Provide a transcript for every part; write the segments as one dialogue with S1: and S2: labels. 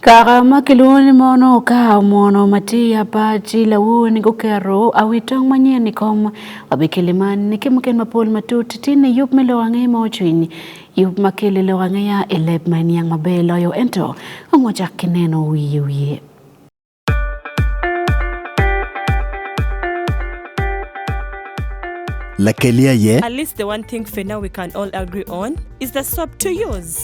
S1: Kara ma kilwoni mono okawo mono matiya pachi lawuon gukero awi tong manyien i kom wabi kili man ni kimuken mapol matut tin i yup me lo ang'e ma ocwiny yup ma kili lo ang'eya i leb ma iniang maber loyo ento ongo wacak ki neno wiye wiye
S2: Lakelia ye. At least the one thing for now we can all agree on is the soap to use.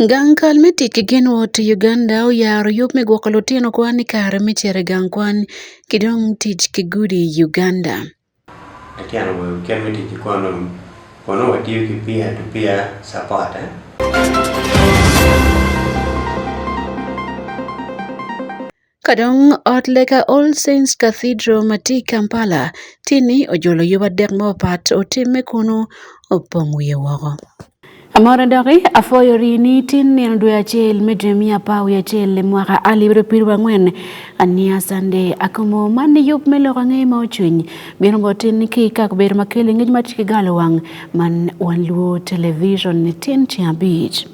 S1: Gankal me tic ki gin wot i Uganda oyaro yub me gwoko lutino kwan i kare me cito i gang kwan ki dong tic ki gudi i Uganda. Latin
S3: awobi i kit me tic ki kwan dong kono watiyo ki peer to peer support. Eh?
S1: Kadong ot lega All Saints Cathedral ma tye i Kampala tye ni ojolo yub adek mapapat otimme kunu opong wiye woko. Amora doki afoyo ri ni tin nino dwe acel me dwe miya pa wi acel le mwaka alibro piru angwen ania sande akomo man ni yub me loko angeye ma ocwiny bino bo tin ni ki kako bedo ma kele ngej ma tiki galo wang man wan luo television ni tin cing abic.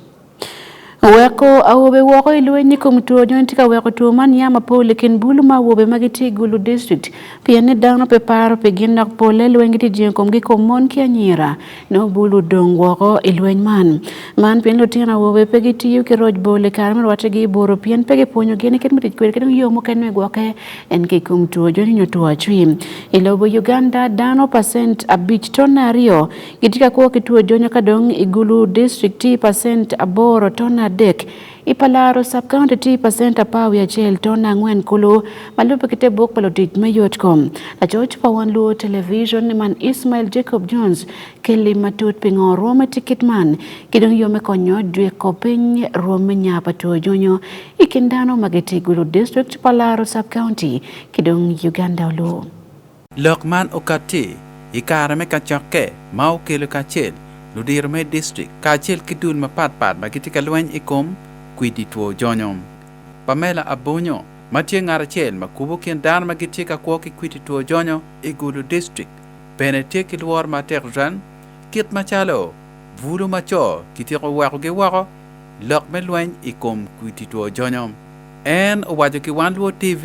S1: Weko awobe woko i lweny i kom two nyo tye ka weko two man ya mapol i kin bulu ma awobe ma gitye i Gulu District pien ni dano pe paro pi gin dok polle lweny gitye jengo komgi i kom mon ki anyira. Nongo bulu odong woko i lweny man. Man pien lutino awobe pe gitiyo ki roc bol i kare me rwattegi i buru pien pe gipwonyogi ni kit me tic kwede ki dong yo mukene me gwokke en ki i kom two joni nyo two acwi. I lobo Uganda dano pacent abic to nyo aryo Giti ka kuo kituo jo nyaka dong igulu district ti percent aboro ton adek ipalaro sub county ti percent apawi achiel ton angwen kulu malupe kite buk palo tich me yot kom lacoc pa wan luo television ni man ismael jacob jones kelli matut pingo rome tikit man kidong yo me konyo jweko piny rome nya pa tuo jonyo ikin dano magiti igulu district palaro sub county kidong uganda oluo Lok man
S4: okatti i kare me kacokke ma okelo kacel ludiro me distrik kacel ki dul mapat pat ma gitye ka lweny i kom kwidi two jonyo. Pamela Abonyo ma tye ngat acel ma kubo kin dano ma gitye ka kwo ki kwidi two jonyo i Gulu distrik bene tye ki lworo matek tutwal kit macalo bulu ma co kityeko wekogi woko lok me lweny i kom kwidi two jonyo. En owaco ki Wan Luo TV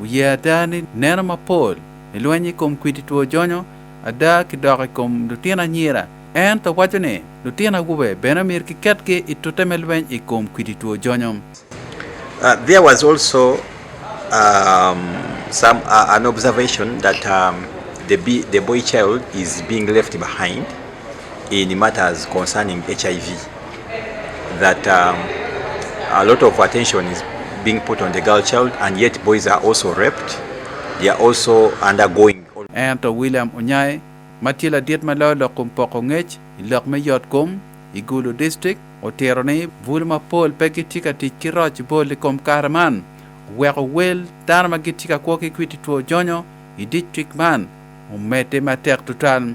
S4: Wuye ada ni neno mapol i lweny i kom kwidi two jonyo ada ki dok i kom lutino anyira. Ento waco ni lutino awobe bene myero kiketgi i tute me lweny i kom kwidi two jonyo. Uh,
S5: there was also um, some uh, an observation that um, the, be, the boy child is being left behind in matters concerning HIV that um, a lot of attention is being put on the girl child and yet boys are also raped they are also undergoing ento William
S4: Onyae ma tye ladit ma loyo lok kom poko ngec i lok me yot kom i Gulu district otero ni bul mapol pe gitye ka tic ki roc bol i kom kare man weko wel dano ma gitye ka kwo ki kwiti two jonyo i district man omedde matek tutwal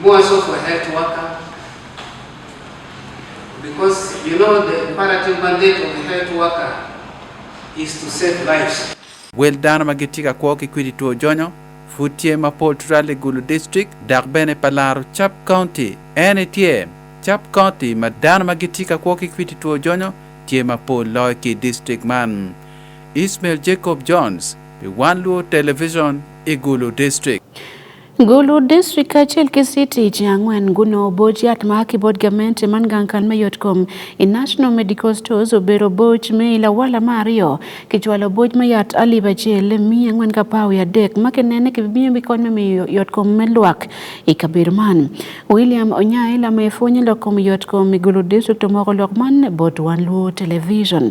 S6: More also for health worker, because you know the imperative mandate of the health worker is to save lives. Wel dano ma
S4: gitye ka kwo ki kwidi two jonyo pud tye ma pol tutwal i Gulu District dok bene pa laro Cap County. En itye Cap County ma dano ma gitye ka kwo ki kwidi two jonyo tye ma pol loyo ki district man. Ismail Jacob Jones pi One Luo Television i Gulu District. Gulu
S1: District kaachiel gi City ji ang'wen guno oboch yath ma kibod gamente man gankan me yot kom i National Medical Stores obero boch me ilawala ma ariyo kichwalo boch me yat alib achiel mi ang'wen ka pawi adek ma kinene kibimiyo mi kony me miyo yot kom me lwak i kabedo man William Onyae lama ifunye lok kom yot kom i Gulu District omoko lok man bot wan luo television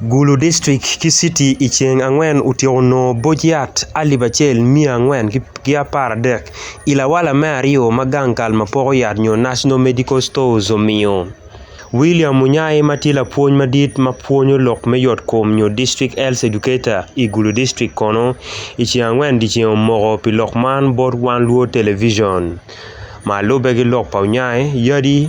S1: Gulu
S7: District ki City i ceng angwen otyeko nongo boc yat alip acel miya angwen ki apar adek i lawala me aryo ma gang kal ma poko yat nyo National Medical Stores omiyo. William Munyai ma tye lapwony madit ma pwonyo lok me yot kom nyo District Health Educator i Gulu District kono i ceng angwen dyeceng omoko pi lok man bot Wan Luo Television. Ma lubbe ki lok pa Onyai, yadi.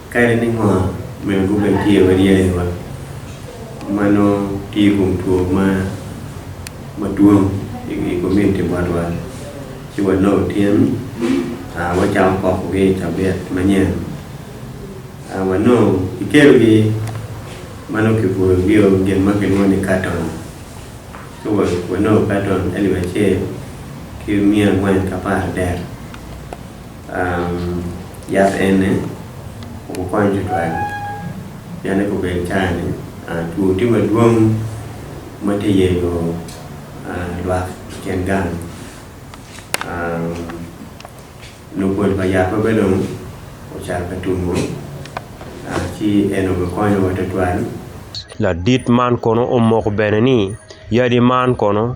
S3: Kare ni ng'o men go ben tiye wadi ya ewa. Mano tiye kum tuo ma maduong i community marwa. Ci wa lo tiem a wa chao koko gi tabia manyen. A wa no ikelo gi mano kipuro gi o gen ma kiluo ni carton. Ci wa wa no carton elwa che ki mia ngwen kapar der. Um, yath ene okokony jotwagi yane kobed chani uh, tuo ti maduong' mateyego uh, lwak ken gang um, nokwod pa yath mabedo ochal ka tumo uh, ci en okokonyo watotwal ladit
S7: man kono omoko bene ni yadi man kono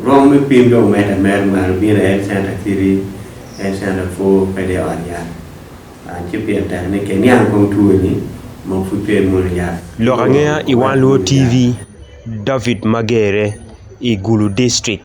S3: Rwom me pim dong medde mere ma lubira Health Center Kiri, Health Center Fur kadi i ot yat. Ah, ci pien tek ni ke niang kong tuwe ni ma pud pe muno yat. Lok angea i One
S7: Luo TV, David Magere i Gulu District.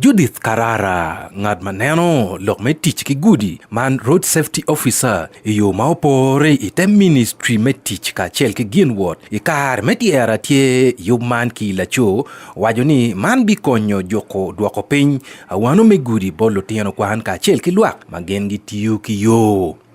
S8: Judith Karara, ng'at maneno lok me tic ki gudi man Road Safety Officer i yo ma opore i te ministry me tic kacel ki gin wot i kar me tyera tye yub man ki laco waco ni man bikonyo juko dwoko piny awano me gudi bol lutino kwan kacel ki lwak ma gin gitiyo ki yo.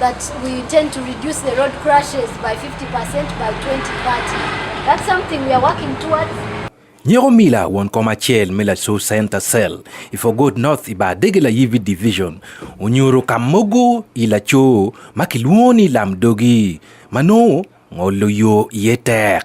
S9: that we intend to reduce the road crashes by 50% by 2030. That's something we are working towards. Nyero Mila
S8: won koma chel mila so center cell. If I go north iba degela yivi division. Unyuru kamogo ila cho makiluoni lamdogi. Mano ngolo yo yetek.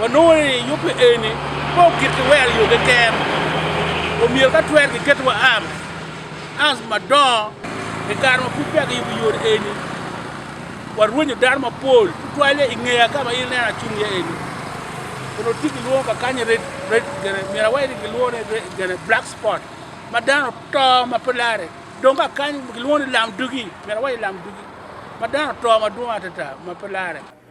S10: wa nono ni yupe eni po kit ki wer yo keken omyero ka twer ki ket wa am ans madongo i kare ma pud peya ki yubo yore eni wa rwenyo dano mapol tutwale i ngeya ka ma in neno acung iye eni kun oti ki lwongo kakanye red red gene myero aweri ki lwongo ni red gene black spot ma dano to ma pe lare dong kakany ki lwongo ni lam dugi myero aweri lam dugi ma dano to madwong atata ma pe lare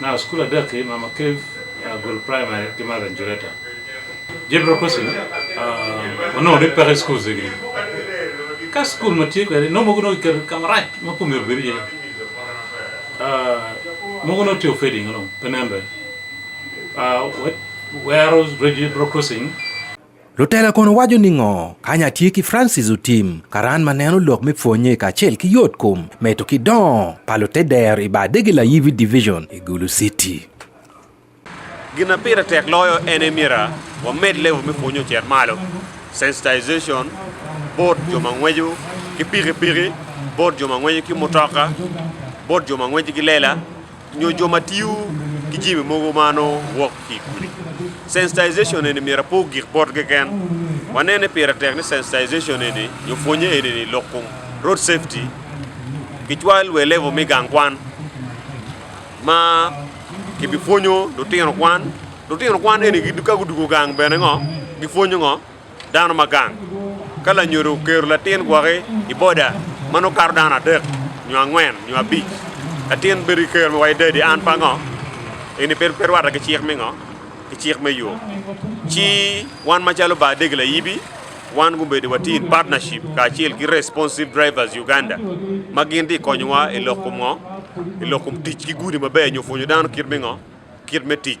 S11: Now school adaki Mama Cave uh, Gul Primary Kimara Njureta. Jebro kosi uh, ono de pare school zegi. Ka school mati ko no mo gono ker kamara ma ko mi obiri. Uh, mo gono ti ofedi ngalo penembe. Uh, what where was Jebro crossing? Lutela
S8: kono waco ni ngo kanya tye ki Francis otim karan ma neno lok me pwonye kacel ki yot kom meto ki dongo pa lute der i bar dege layibi division i Gulu City.
S12: Gin na pire tek loyo en emira wamed level me pwonyo cer malo sensitization bot jo ma ngwejo ki pikipiki bot jo ma ngwejo ki mutoka bot jo ma ngwejo ki lela Nyo jo ma tiyo ki jimi mogo ma wok ki kuli. Sensitization eni mira po gik bot keken. Wanene pira tek ni sensitization eni nyo pwonye eni ni lok kum road safety ki cwal we level mi gang kwan ma ki bi pwonyo lutino kwan lutino kwan eni ka gudugo gang bene ngo gi pwonyo ngo Dano ma gang ka lanyodo okero latin gwoki i boda ma nongo kato dano adek nyo angwen nyo abic latin bedo i kero wa i dadi an pa ngo eni pe pe rwata ki cik me ngo ki cik me yo ci wan macalo ba adegi layibi wan gubedo wati in partnership kacel ki responsive drivers uganda ma gin ti konyowa i lok kom ngo i lok kom tic ki gudi maber nyo pwonyo dano kit me ngo kit me tic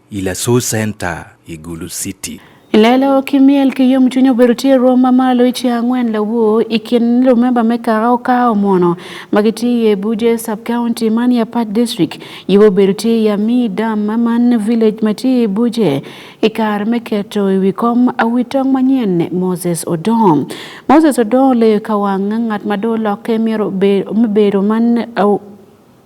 S8: Ila su senta Igulu City. Lelo ki
S1: myel ki yomcwiny obedo tye rwom ma malo i ceng angwen lawo i kin lumemba me kaka okawo mono ma gitye i Abuja sub county man i Apac district yubo obedo tye i Amii Dam ma man village ma tye i Abuja i kare me keto i wi kom awi tong manyen Moses Odong. Moses Odong oleyo ka wang ngat ma dong olokke myero me bedo man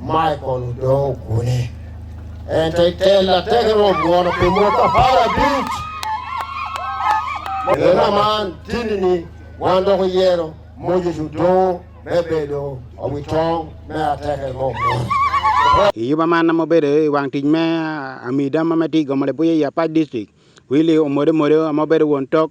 S13: Michael Odong Kune. And I tell a terrible one of the Mota Para Beach. Ena man tinini wando ko yero mojo judo bebedo awitong me ateke mo. Yuba
S14: man mo bedo i wang tij me amida ma mati gomole buye ya pa district. Wili omode mode mo bedo won tok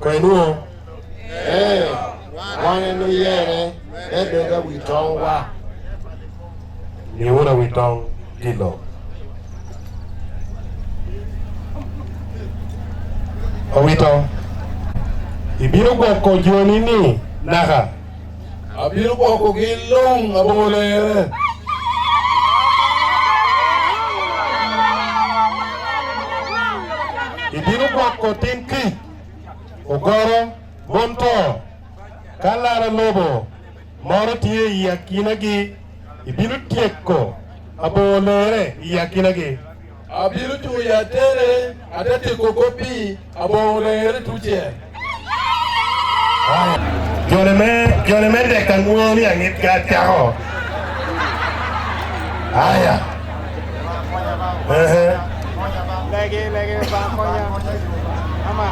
S13: kwenuo ee wane nuyere bedoga wi tong wa niura wi tong kilo owito ibiro gwoko joni ni naha Abiro kwako gi long' abolere. Ibiro kwako tin ki ogoro bonto kalara lobo moro tiye i akinagi ibiro tieko abolere i akinagi Abiro chuyo atere atete koko pi abong'ore tuche. Jone me jone me deka ng'uoni ang'it ka chaho. Aya. Ehe. Lagi lagi bangkonya. Ama.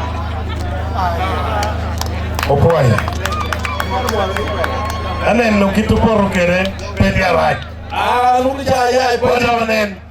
S13: Opoya. Aneno kituporo kere pedi arach. Ah, nukija ya ipo. Wana wanen.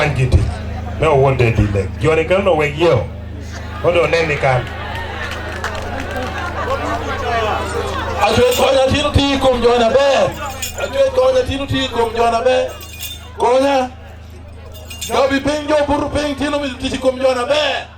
S13: an gi tich ne owuon de dhi lek joni kal no weg yeo mondo one ni kan Achwech konya tino ti kuom jona be. Achwech konya tino ti kuom jona be. Konya. Jobi piny jo buru piny tino mi tich kuom jona be.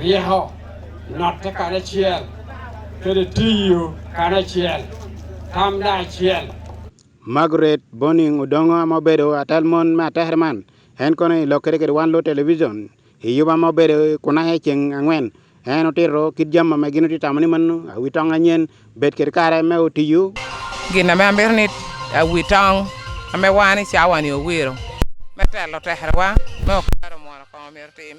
S15: riho notte kanachiel kendo tiyo kanachiel tamda achiel Margaret
S14: Boning Odongo ma obedo atal mon ma ater man en kono i lok kede kede wan lo television i yuba ma obedo kunahe ceng angwen en otiro kit jam ma gin otye tamo ni mano awi tong anyen bed kede kare me otiyo gin ame amito
S16: ni awi tong ame wan i cawani owiro me telo terewa me okero mono kong omito tim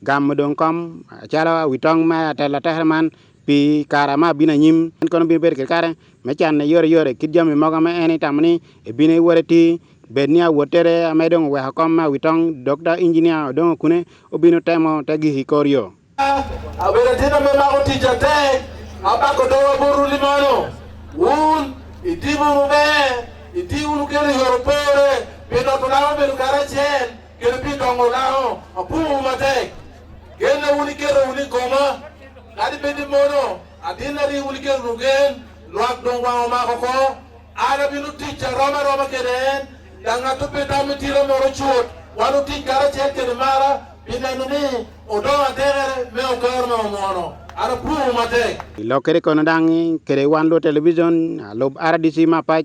S14: Gamo dong kom calo wi tong me atelo atekere man pi kare ma abino anyim. En kono bino bedo kede kare me canne yore yore kit jami mogo ma en itamo ni ebino iwore iti bed ni awotere ame dong oweko kom ma wi tong dok da injinia odongo kune obino temo te gik i kor yo. Abedo
S17: tino me mako tic atek abako dowa boru ni mano wun itimo maber iti wunu kelo yoro pore pino tunamo bedo kare acel Kendo pi dongo lao apumu matek. Kendo uni kero uni goma. Kadi bedi mono adina ri uni kero rugen. Luak dong wango mako ko. Ana binu ticha roma roma keden. Dangatu pita mitira moro chut. Wanu tich kara chek kede mara. Binenu ni odong atere me okor me omono. Ana pumu matek. Ilokere kono
S14: dang kere wan lo television alob RDC mapac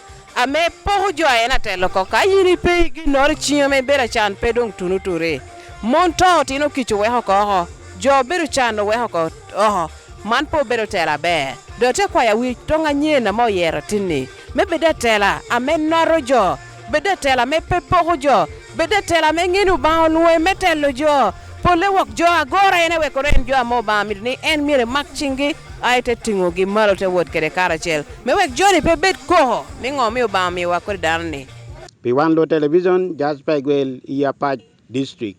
S18: ame pok jwaye na telo ko ka yini pe gi nor chiyo me bera chan pe dong tunu ture mon to tino kicho we hoko ho jo bero chan we hoko oho man po bero tela be do te kwa ya wi to nga nye na mo yero tini me beda tela ame noro jo beda tela me pe pok jo beda tela me nginu ba onwe me telo jo Pole wok jo agora en ewekore en jo amo ba mit ni en mire mak chingi ai te tingo gi malo te wot kede kara chel. Me wek joni pe bet koho mi ngo mi ba mi wa kod dan ni. Pi wan lo
S14: television jazz pa gwel iya pa district.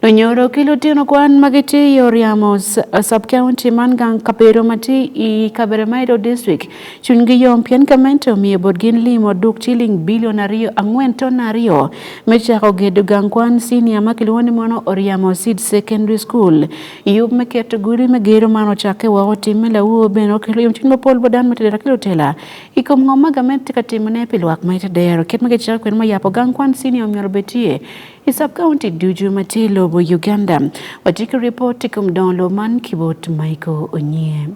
S14: No nyoro
S1: kilo tino kwan magiti yoriamos sub county man gang kapero mati i kabere maido district Chunygi yom pien kamente omiyo botgin limo duk chiling bilion ariyo ang'wen ton ariyo me chako gedo gang kwan senior ma kiluongo ni mono Oriamo Seed Secondary School. Yub me keto guri me gero man ochakke woko tim me lawuo bene okelo yom chuny mapol bo dan matedera kelo tela. I kom ngom ma gamet tye ka timone pi lwak ma ite dero kit ma kicako kwede ma yapo gang kwan senior omyero betie i sub county ducu ma tye i lobo Uganda. Watye ki ripot i kom dongo lobo man ki bot Michael Onyie.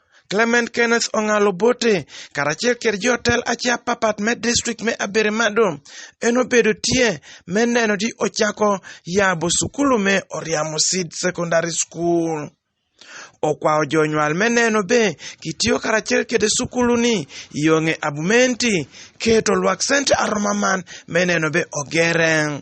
S19: Clement Kenneth Ong'al Obote karachiel kod jotel achiel papat me distrikt me Aberemado enobedo tye me neno ni ochako yabo sukulu me Oriamo Seed Secondary School. Okwayo jonywal me neno be kitiyo karachiel kede sukuluni yong'e abumenti keto lwak sente aroma man me neno be ogere.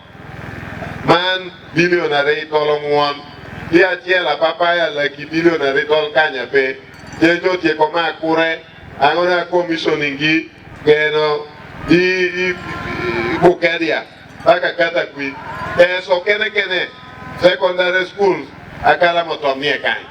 S20: man bilion ariyo tol ong'uon gi achiel apapaya laki bilion ariyo tol kanya pe jejo otieko ma kure ang'o na komishoni gi geno gi bukeria mpaka kata kwi eso kene kene secondary schools akala motomie kanyo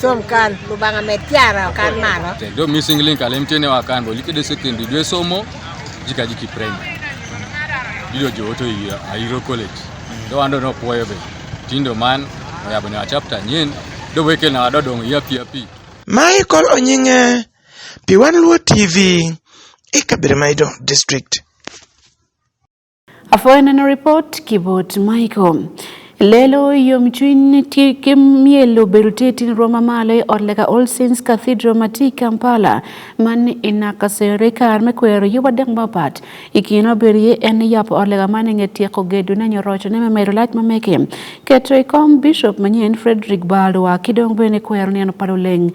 S21: Som kan lubanga me tiara kan mano. Do missing link alem
S22: tene wa kan bolike de secondary dwe somo jika jiki primary. Ilo jo to yi ayiro college. Do ando no puoyo be. Tindo man ya bana chapter nyen do weke na do dong ya pia pi. Michael
S19: Onyinge Piwan Luo TV Ikabiremaido District.
S1: Afoyo neno report kibot Michael. Lelo yom chuny kimielo berutetin Roma malo e od leka All Saints Cathedral mati Kampala man inakasere kar me kwero yuba dek mapat ikino berie en yap od leka man inge tieko gedo ne nyorocho ne memedo lac mameke keto i kom Bishop manyen Frederick Balwa kidong bene kwero neno palo leng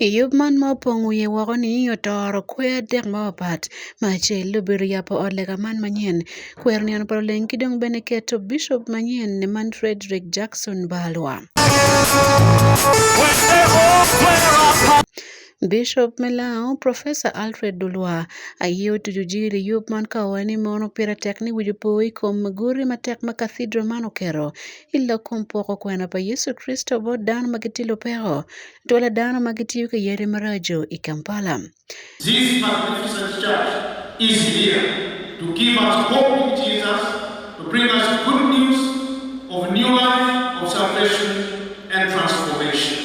S1: I yub man ma opong wiye woko ni otoro kwer adek mapapat ma acel obedo yabo ot lega man manyen kwer ni obedo leng ki dong bene keto bishop manyen ni man Frederick Jackson Balwa Bishop Melao, Professor Alfred Dulwa, aye otuju jiri yub man ka owae ni mono pira tek ni wiju po i kom guri matek ma cathedral man okero i lok kom poko kwena pa Yesu Kristo bot dano ma gitilo peko Twala dano ma gitiyo ki yadi maraco i Kampala. This
S23: magnificent church is here to give us hope in Jesus, to bring us good news of new life, of salvation and transformation.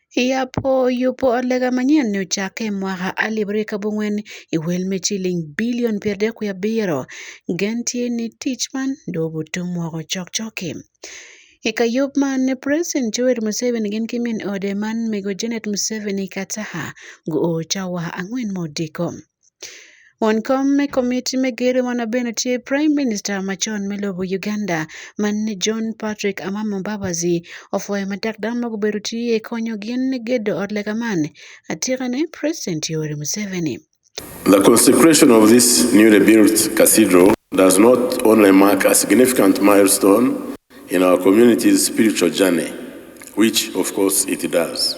S1: Yapo yupo lega manyien ni ochake e mwaka alif ariyo kabong'wen e wel me chiling bilion piero adek kwi abiro gentie ni tich man dobutu mwoko chokchoke. E kayub man President Joel Museveni gin ki min ode man mego Janet Museveni kataha go ocawa ang'wen modiko. Won kom me komiti me gero mano bende tye Prime Minister macon me lobo Uganda man ni John Patrick Amama Mbabazi ofwayo matek dano ma gubedo tye konyo gin ni gedo ot lega man atika ne President Yoweri
S24: Museveni. The consecration of this newly built cathedral
S3: does not only mark a significant milestone in our community's spiritual journey, which of course it does,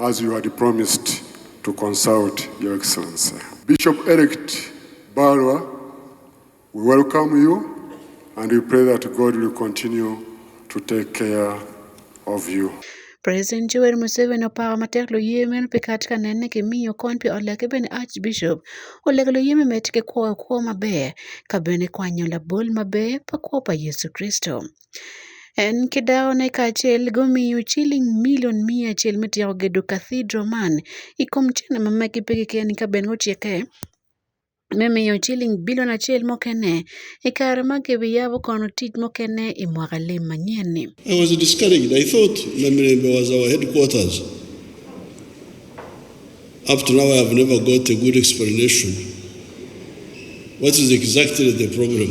S25: As you had promised to consult your excellency. Bishop elect Barwa, we welcome you and we pray that God will continue to take care of you. President Joel
S1: Museveni opawa matek loyeme pe kat ka nenne ki miyo kon pi ot lake bene Archbishop olego loyeme med ki kwoyo kwo maber ka bene kwanyo labol maber pa kwo pa Yecu Kricito. En kidawone kaachiel gomiyo chiling milion mia achiel mitiyo gedo kathidro man ikom china ma maki pigi ken ka ben ochieke mimiyo chiling bilion achiel mokene e kare ma kebi yabo kono tij mokene e mwaka lim manyien ni. I was discouraged.
S5: I thought Namirembe was our headquarters. Up to now, I have never got a good explanation. What is exactly the problem?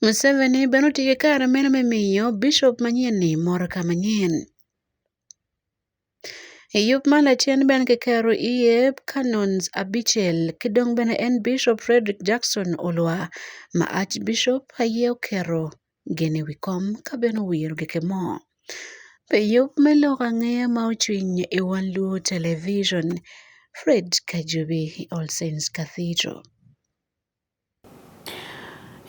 S1: Museveni be noti gi kar meno me miyo bishop manyienni mor ka manyien. E yup ma lachien ben ki kero iye Canons abichel ki dong bene en Bishop Frederick Jackson Olwa ma Archbishop aye okero gene wi kom ka bene owiro gike mo. Pe yup me lok ang'eya ma ocwiny i wan Luo Television, Fred Kajubi, All Saints Cathedral.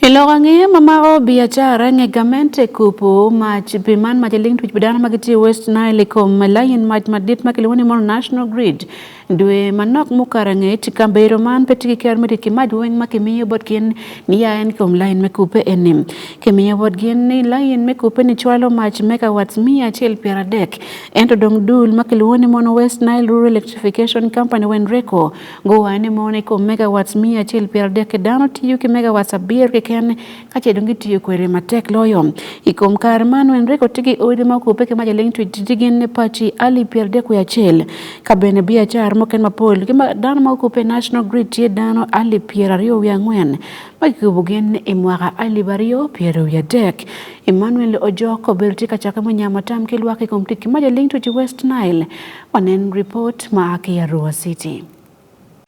S1: Iloko ang'e ma maro biacara ng'e gamente kupu ma piman ma jaling twich bidana ma gitiyo West Nile kom layin mach madit ma kiluongo ni mono National Grid dwe manok mukara ng'e tika bero man pe tiki ker miti ki maj weng ma kimiyo bot gin ni ya en kom layin me kupe enim kimiyo bot gin ni layin me kupe ni chwalo mach megawatts miya achiel piero adek ento dong dul ma kiluongo ni mono West Nile Rural Electrification Company wen reko Gowa ane mone kuom megawatts mia achiel piero adek e dano tiyo ki megawatts abir keken kace dong gitiyo kwede matek loyo. I kom kare man wen reko tigi odi ma okupe ki mac aling twi titi gin ne paci alip piero adek wiye acel. Ka bene biacara muken mapol ki ma dano ma okupe i National Grid tye dano alip piero aryo wiye angwen ma kikubo gin i mwaka alip aryo piero wiye adek. Emmanuel Ojok obedo tye ka cake munyamo tam ki lwak i kom tic ki mac aling twi ti West Nile Wanen report ma ake ya Ruwa City.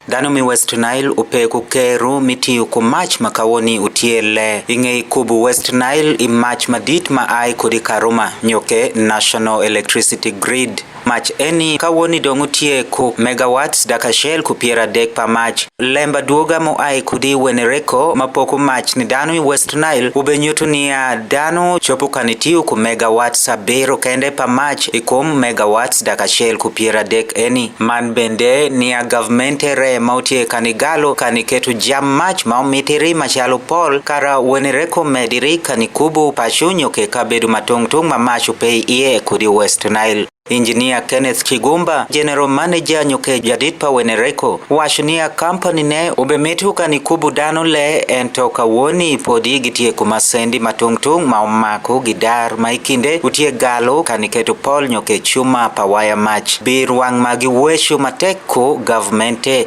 S1: Dhano mi
S6: West Nile upe ku keru mitiyo ku mac ma kawoni utyelle i ngei kubu West Nile i mac madit ma ai kodi Karuma nyo ke National Electricity Grid. Mac eni kawoni dong utye ku megawatts dakacel ku pyeradek pa mac. Lemba dwoga mu ai kodi Wenereko ma poko mac ni dano i West Nile obenyutu niya dano chopo kan itiyo ku megawatts abiro kende pa mac i kom megawatts dak acel ku pyera dek eni. Man bende niya gavmente re ma utye kan igalo kan iketo jam mac ma omitiri macalo pol kara weni reko mediri kan ikubu pacu nyo ke kabedo ma tung tung ma mac ope iye kudi West Nile. Injinia Kenneth Kigumba, General Manager Nyuke Jadid pa Wenereko, wacho niya kampani ne obemetu ka ni kubu dano le en to kawuoni podi gitie kuma sendi matung'tung' ma omako gi dar ma ikinde utie galo ka niketo pol Nyuke Chuma pa waya mach bir wang' ma giweshu matek ko gavmente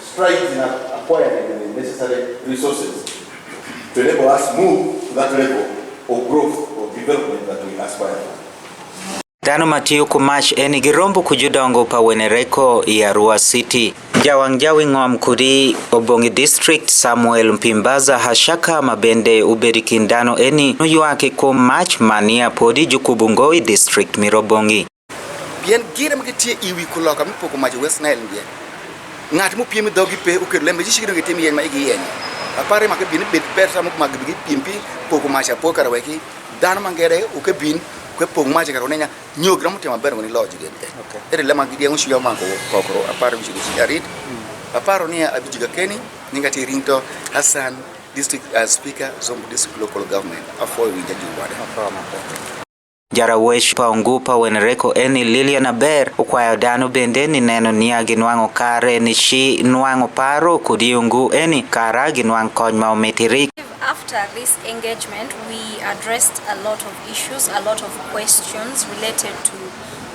S7: strides in acquiring the necessary resources to enable us move to that level of growth or development that we aspire for. Dhano
S6: matiyo kumach eni gi rombo kujudongo pa wenereko ya Arua City. Jawang' jawi ng'om kudi Obongi District Samuel Mpimbaza Hashaka mabende ubedi kind dhano eni noywaki kuom mach mania podi Jukubu Ngowi District Mirobongi. Pien
S9: gire ma gitie i wi kuloka mi poko majo West Nile ndiye. Ng'at mo piem dhogi pe okedo lembe ji shikino gitim yeny ma igi yeny. Apare ma kebin bed ber samo mag bigi piem pi poko majo apo kara weki. Dan mangere ukebin kwe pong majo kara unenya nyogra mutema ber ngoni loji gen. Okay. Ere lema gidi ang shuya mango kokro apare mi shigi arit. Aparo ni abijiga keni ninga ti rinto Hassan district uh, speaker Zombo district local government afo winja juwada. Apo ma. Jarawech
S6: Paungupa Wenereko Eni Lilian Aber okwayo dano bende ni neno niya ginwang'o kare ni chi nwang'o paro kod yungu eni kara ginwang' kony ma omitiri. After this
S10: engagement, we addressed a lot of issues, a lot of questions related to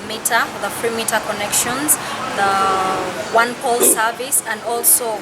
S10: meter, the free meter connections, the one pole service, and also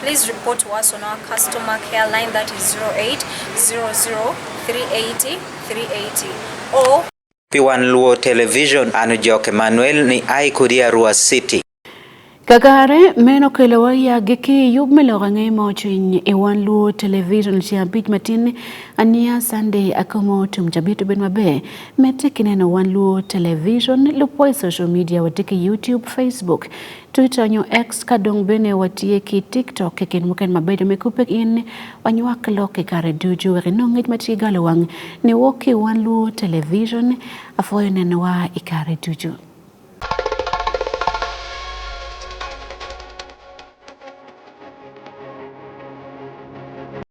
S10: Please report to us on our customer care line that is 0800 380 380 or Piwan Luo
S6: Television and Joke Manuel ni ai kudia Rua City. Kakare
S1: meno kelo waya gi ki yub melo gange mo chiny e wan luo television chi abich matin ania Sunday akomo tum jabitu ben mabe mete kineno wan luo television lupo e social media watiki YouTube Facebook Twitter nyo X ka dong bene watiye ki TikTok keken muken mabedo me kupe in wanywak lok i kare ducu wek inong ngec ma tye galo wang ni wok ki wan luwo television apwoyo nenowa i kare ducu.